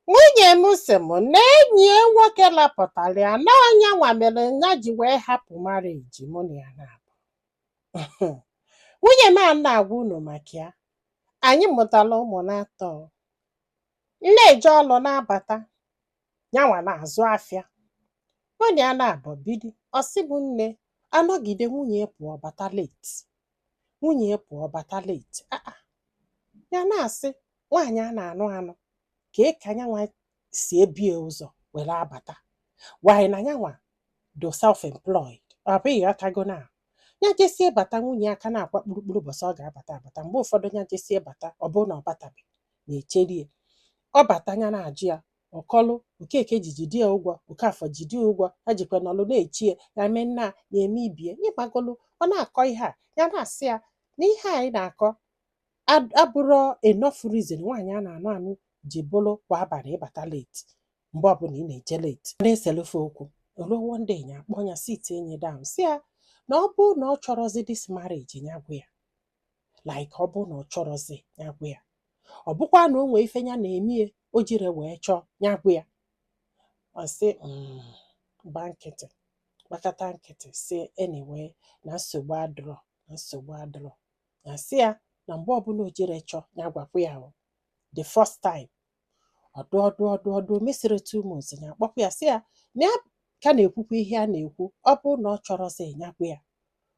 nwunye m sị m na enyi ya nwoke lapụtara ya na ọ nyanwa mere ya ji wee hapụ marriage mụ na ya naabọ nwunye m a na-agwa unu maka ya anyị mụtara ụmụ naatọ m na-eje ọlụ na-abata nyanwa na-azụ afịa mụ na ya naabọ bidi ọ sị m na anọgide nwunye pụọ bata late nwunye ya pụọ bata late ah ah. ya na-asị nwaanyị a na-anụ anụ kee ka nyanwa si ebu ya ụzọ were abata while na nyanwa do self employed ọ bụ ị ghọtago na ya jesie bata nwunye ya ka na-akwa kpurukpuru bọsị ọ ga-abata abata mgbe ụfọdụ ya jesie bata ọ bụrụ na ọ batabeghị na-echere ya ọ bata ya na-ajụ ya ọ kọlụ Okeke ji jide ya ụgwọ Okafọ jide ya ụgwọ ha jikwa n'ọlụ na-echi ya ya mee nna a, ya eme ibe ya ị magolu ọ na-akọ ihe a ya na-asị ya na ihe a ị na-akọ ad- abụrọ enough reason nwaanyị a na-anụ anụ ji bụrụ kwa abalị ịbata late mgbe ọbụla ị na-eje late na-eselụ fa okwu o luo one day ya akpọ ya sitie nya down sị ya na ọ bụ na ọ chọrọzi this marriage ya gwa ya like ọ bụ na ọ chọrọzi ya gwa ya ọ bụkwa na o nwee ife ya na-eme ya o jire wee chọọ ya gwa ya ọ sị m gba nkịtị gbakata nkịtị sị anyway na nsogbu adịrọ na nsogbu adịrọ ya sị ya na mgbe ọbụla o jire chọọ ya gwakwa ya o the first time ọ dụ ọ dụ ọ dụ ọ dụ o mesịrị two months ya akpọkwa ya sị ya na ya ka na-ekwukwa ihe a na-ekwu ọ bụ na ọ chọrọzi ya gwa ya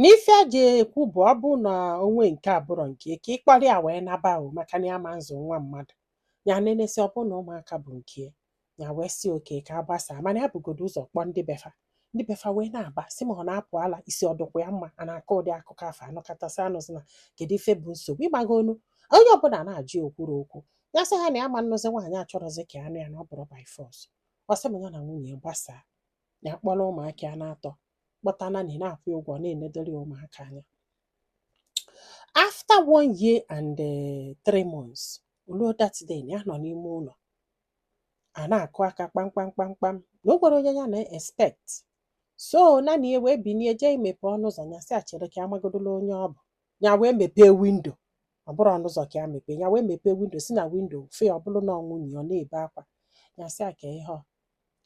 N'ife e ji ekwu bụ ọ bụ na o nwee nke abụrọ nke ya, ka ị kpọrọ ya wee naba o maka na ya ama nzụ nwa mmadụ ya nenesịa ọ bụ na ụmụaka bụ nke ya ya wee sị okay ka a gbasaa mana ya bugodo ụzọ kpọọ ndị be fa ndị be fa wee na-aba sị ma ọ na-apụ ala isi ọ dụkwa ya mma a na-akọ ụdị akụkọ afụ anọkọtasị anụzi na kedu ife bụ nsogbu ị magonu onye ọbụla na-ajụ ya okwuru okwu ya sị ha na ya ama nnụzi nwaanyị achọrọzi ka ya nụ ya na ọ bụrọ by force ọ sị m ya na nwunye ya gbasaa ya kpọrọ ụmụaka ya naatọ kpọta nanny na-akwụ ya ụgwọ na-enedoro ya ụmụaka anya after one year and eh, three months o luo that day na ya nọ n'ime ụlọ a na-akụ aka kpamkpam kpamkpam na o nwerọ onye ya na-expect so na nya wee binie jee imepe ọnụ ụzọ ya sị a chere ka ya magodolu onye ọ bụ ya wee mepee windo ọ bụrọ ọnụ ụzọ ka ya mepee ya wee mepee windo si na windo fe ọ bụrụ na ọ nwunye ya ọ na-ebe akwa ya sị ya kee ihe ọ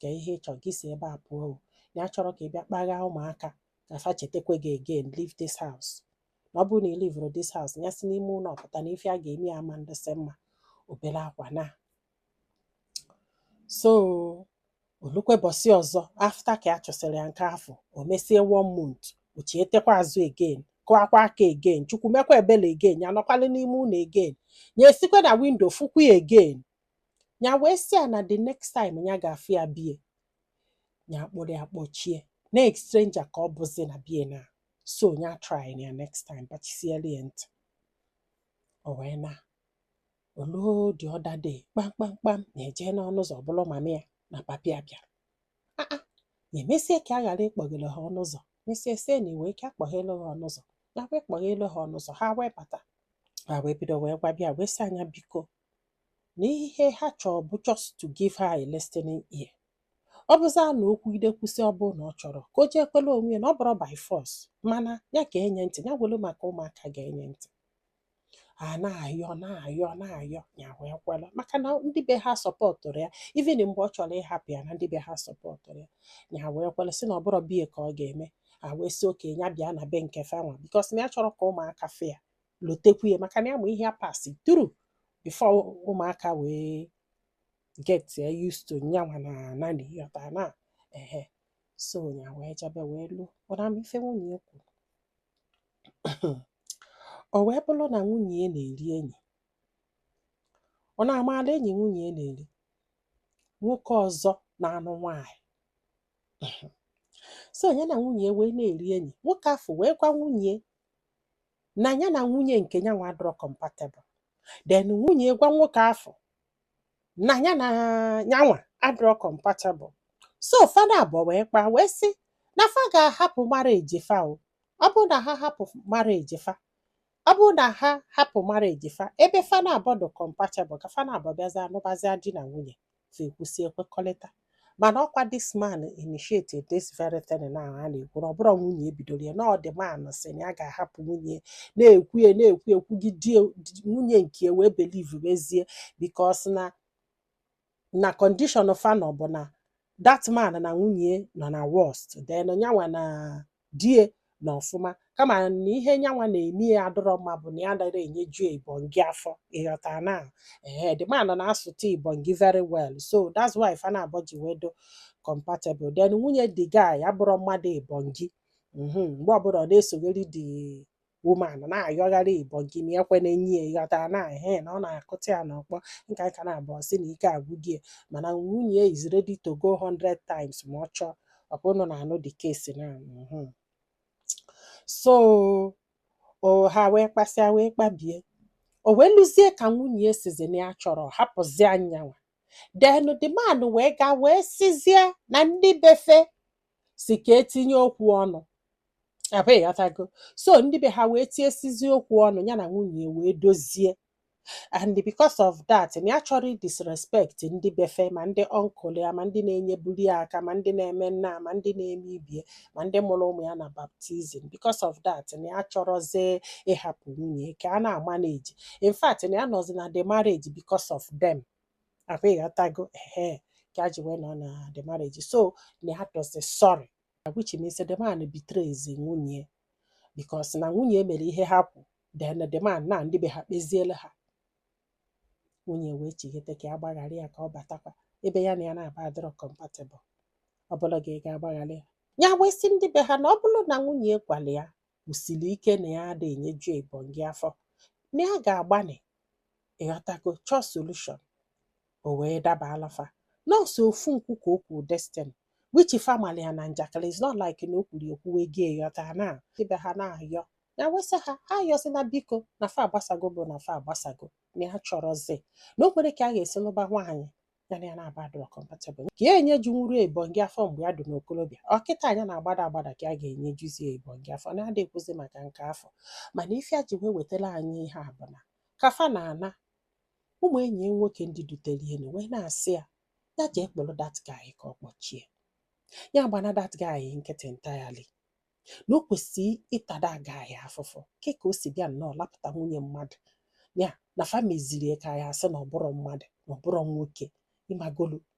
kee ihe ị chọrọ gị si ebe a pụọ o na ya achọrọ ka ị bịa kpaghaa ụmụaka ka fa chetakwa gị again leave this house na ọ bụrụ na ị leave-rọ this house ya si n'ime ụlọ pụta na ife a ga-eme ya ama ndịsị mma o bere akwa naa so o lukwe bọsị ọzọ after ka ya chụsịrị ya nke afụ o mesie one month o chietekwa azụ again kụakwa aka again Chukwu mekwa ebele again ya nọkwalị n'ime ụlọ again ya esikwa na windo fụkwa ya again ya wee sị ya na the next time ya ga-afụ ya bie ya akpụrụ ya kpọchie na stranger ka ọ bụzi na bie na so ya try ya next time bachisiere ya ntị o wee na olu the other day kpamkpamkpam ya eje n'ọnụ ụzọ ọ bụrụ mama ya na papa ya bịara Ah, ah, ya emesie ka a ghara ịkpọghere ha ọnụ ụzọ mesie sie na iwe ike akpọghelu ha ọnụ ụzọ ya wee kpọghelu ha ọnụ ụzọ ha wee bata ha wee bido wee gwa bịa wee sị anya biko na ihe ha chọrọ bụ just to give her a listening ear ọ bụzịa na o kwuide kwusi ọ bụrụ na ọ chọrọ ka o jee kwele onwe ya na ọ bụrọ by force mana ya ka enye ntị ya welu maka ụmụaka ga-enye ntị a na-ayọ na-ayọ na-ayọ ya wee kwela maka na ndị be ha supportụrụ ya even mgbe ọ chọrọ ịhapụ ya na ndị be ha supportụrụ ya ya wee kwela sị na ọ bụrọ bie ka ọ ga-eme a wee sị okay ya bịa na be nke fanwa because na ya chọrọ ka ụmụaka fụ ya lotekwu ya maka na ya ma ihe a passị through before ụmụaka wee get used to nyanwa na nanny ịghọta na ehe so ya wee jebe wee luo ụra m ife nwunye ya kwuru o wee bụrụ na nwunye ya na-eri enyi ọ na-amaala enyi nwunye ya na-eri nwoke ọzọ na-anụ nwaanyị so ya na nwunye ya wee na-eri enyi nwoke afụ wee gwa nwunye na ya na nwunye nke nyanwa adịrọ compatible then nwunye gwa nwoke afụ na ya na nyanwa adịrọ compatible so fa na abụọ wee kpaa wee sị na fa ga-ahapụ marriage fa o ọ bụrụ na ha hapụ marriage fa ọ bụrụ na ha hapụ marriage fa ebe fa na abụọ dị compatible ka fa na abụọ bịazia nụbazia di na nwunye fa ekwusie kwekọrịta mana ọkwa this man initiated this very thing na a na-ekwu na ọ bụrọ nwunye e bidoro ya na ọ the man sị na ya ga-ahapụ nwunye na-ekwu ya na-ekwu ekwugide nwunye nke wee believe mezie because na na condition fa nọ bụ na that man na nwunye nọ na worst then nyanwa na die nọ ọfụma kama na ihe nyanwa na-eme ya adịrọ mma bụ na ya anarọ enyeju ibongi afọ ịghọta na ee the man na-asụta ibongi very well so that's why fa na abọ ji wee dị compatible then nwunye the guy abụrọ mmadụ ibongi Mhm, mgbe ọbụla ọ na-esogharị the woman na-ayọgharị ibongi na ekwe na-enye ya ịghọtara na he na ọ na-akụta ya n'ọkpọ nka nka na-abụọ ọ sị na ike agwụgo ya mana nwunye ya is ready to go 100 times ma ọ chọọ ọkwa ụnụ na-anụ the case na mhm. so o ha wee kpasịa wee kpabie o wee luzie ka nwunye ya sizi na ya chọrọ ịhapụzi nyanwa then the man wee gaa wee sizie na ndị be fa si ka e tinye okwu ọnụ abi ịghọtago so ndị be ha wee tinyesịzi okwu ọnụ ya na nwunye ya wee dozie and because of that na ya achọrọ disrespect ndị be fa ma ndị uncle ya ma ndị na-enyebuli ya aka ma ndị na-eme nna ma ndị na-eme ibie ma ndị mụrụ ụmụ ya na baptism because of that na ya achọrọzi ịhapụ nwunye ya ka a na-amanage in fact na ya nọzi na the marriage because of them abi ịghọtago ehe ka a ji wee nọ na the marriage so na ya tọzi sorry which means the man betrays nwunye because na nwunye mere ihe ha kwu then the man na ndị be ha kpeziele ha nwunye wee chighete ka ya gbaghara ya ka ọ batakwa ebe ya na ya naabọ adịrọ compatible ọ bụlụ gị ị ga-agbaghara ya ya wee sị ndị be ha na ọ bụrụ na nwunye gwara ya kwusiri ike na ya ada enyeju ebonyi afọ na ya ga-agbanị ịghọtago chọọ solution o wee daba alafa nọọsụ ofu nkwu ka o kwuru this thing with family ya na njakịrị is not like na o kwuru ekwu wee gee ghọta ndị be ha na-ayọ ya wee sị ha ha ayọzina biko na fa agbasago bụ na fa agbasago na ya achọrọzi na o nwerọ ka a ga-esi nụba nwaanyị ya na ya naabọ adịrọ compatible ka ya enyejunwurọ ebonyi afọ mgbe ya dị n'okorobịa ọ kịta nya na-agbada agbada ka a ga-enyejuzie ebonyi afọ na adị ekwuzi maka nke afọ mana ife a ji wee wetara anyị ihe a bụ na ka fa na-ana ụmụ enyi ya nwoke ndị dutere ya na wee na-asị ya ya jee kpụrụ that guy ka ọ kpọchie ya agbana that guy nkịtị entirely na o kwesịrị ịta that guy afụfụ ke ka o si bịa nnọọ lapụta nwunye mmadụ ya na fa meziri ya ka ya asị na ọ bụrọ mmadụ na ọ bụrọ nwoke ịmagolu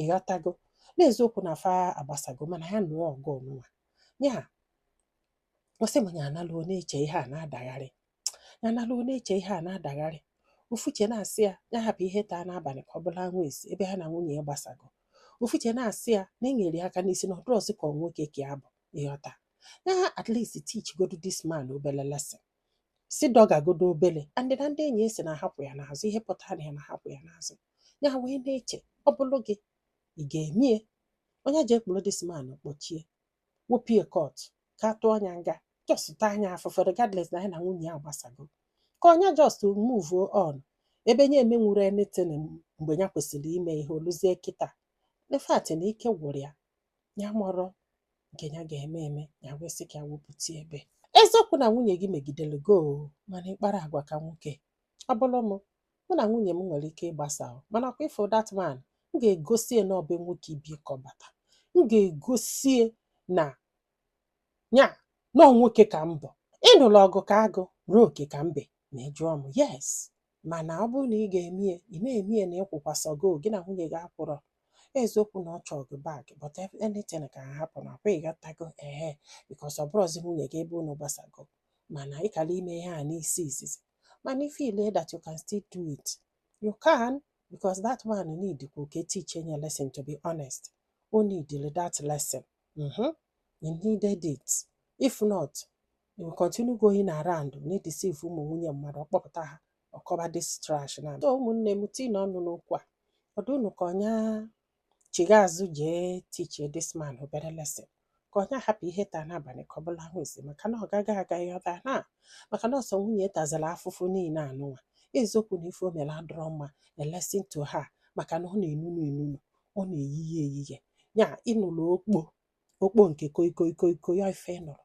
ịghọtago n'eziokwu na fa agbasago mana ya nụọ ọgụ ọnụnwa ya ọ sị ma ya naluo na-eche ihe a na-adagharị ya naluo na-eche ihe a na-adagharị ofu uche na-asị ya ya hapụ ihe taa n'abalị ka ọ bụla anwụ esi ebe ha na nwunye ya gbasago ofu uche na-asị ya na e nyere ya aka n'isi na ọ dịrọzi ka ọ nwoke ka ya bụ ịghọta ya at least teach godu this man obele lesson si dọgagodo obere and na ndị enyi ya sị na ha kwụ ya n'azụ ihe pụtara na ha na ha kwụ ya n'azụ ya wee na-eche ọ bụrụ gị ị ga-eme ya ọ nya jee kpụrụ this man kpọchie wopie court ka a tụọ nya nga just taa nya afụfụ regardless na ya na nwunye ya gbasago ka ọ nya just move on ebe nya emenwurọ anything mgbe ya kwesịrị ime ihe o luzie kịta in fact na ike gwụrụ ya ya amarọ nke ya ga-eme eme ya wee sị ka ya wepụta ebe eziokwu na nwunye gị megidere gị o mana ịkpara agwa ka nwoke ọ bụrụ m mụ na nwunye m nwere ike ịgbasa o, mana ọkwa ị fụ that man m ga-egosi ya na ọ be nwoke ibe ya ka ọ bata m ga-egosi ya na ya na ọ nwoke ka m bụ ịnụla ọgụ ka agụ ruo oke ka mbe ma ị jụọ m yes mana ọ bụrụ na ị ga-eme ya ị na-eme ya na ịkwụkwasago gị na nwunye gị akwụrọ eziokwu na ọ chọọ gị back but anything can happen ọkwa ịghọtago ehe because ọ bụrụzi nwunye gị ebe unu gbasago mana ị kara ime ihe a n'isi izizi mana if you feel that you can still do it you can because that man need ka oke teach enye lesson to be honest o needile that lesson mhm he needed it if not He will continue going around na-edeceive ụmụ nwunye mmadụ ọ kpọpụta ha ọ kọba this trash na so ụmụnne m tiinu ọnụ n'okwu a ọ dị unu ka ọ nya chigha azụ jee teachie this man obere lesson ka ọ nya hapụ ihe taa n'abalị ka ọ bụlụ anwụ ezi maka na ọ gaghị aga ịghọta na maka na ọ sọ nwunye tazara afụfụ niile anụnwa eziokwu na ife o mere adịrọ mma a lesson to her maka na ọ na-enunu enunu ọ na-eyiye eyiye ya ịnụrụ okpo okpo nke koi koi koi koi ya ife ị nụrụ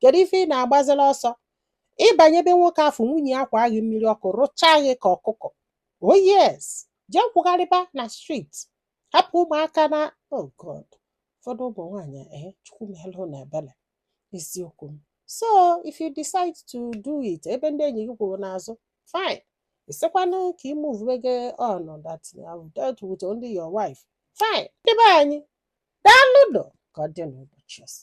kedu ife ị na-agbazila ọsọ ị banye be nwoke afụ nwunye ya akwaa gị mmiri ọkụ rụchaa gị ka ọkụkọ oh yes jee kwụgharịba na street hapụ ụmụaka na oh god ụfọdụ ụmụ nwaanyị ee eh, chukwu melụ unu ebele eziokwu m so if you decide to do it ebe ndị enyi gị kwuru n'azụ fine ị sịkwanụ ka ị move gị on that you have dealt with only your wife fine ndị be anyị daalụ ka ọ dị n'ụbọchị ọzọ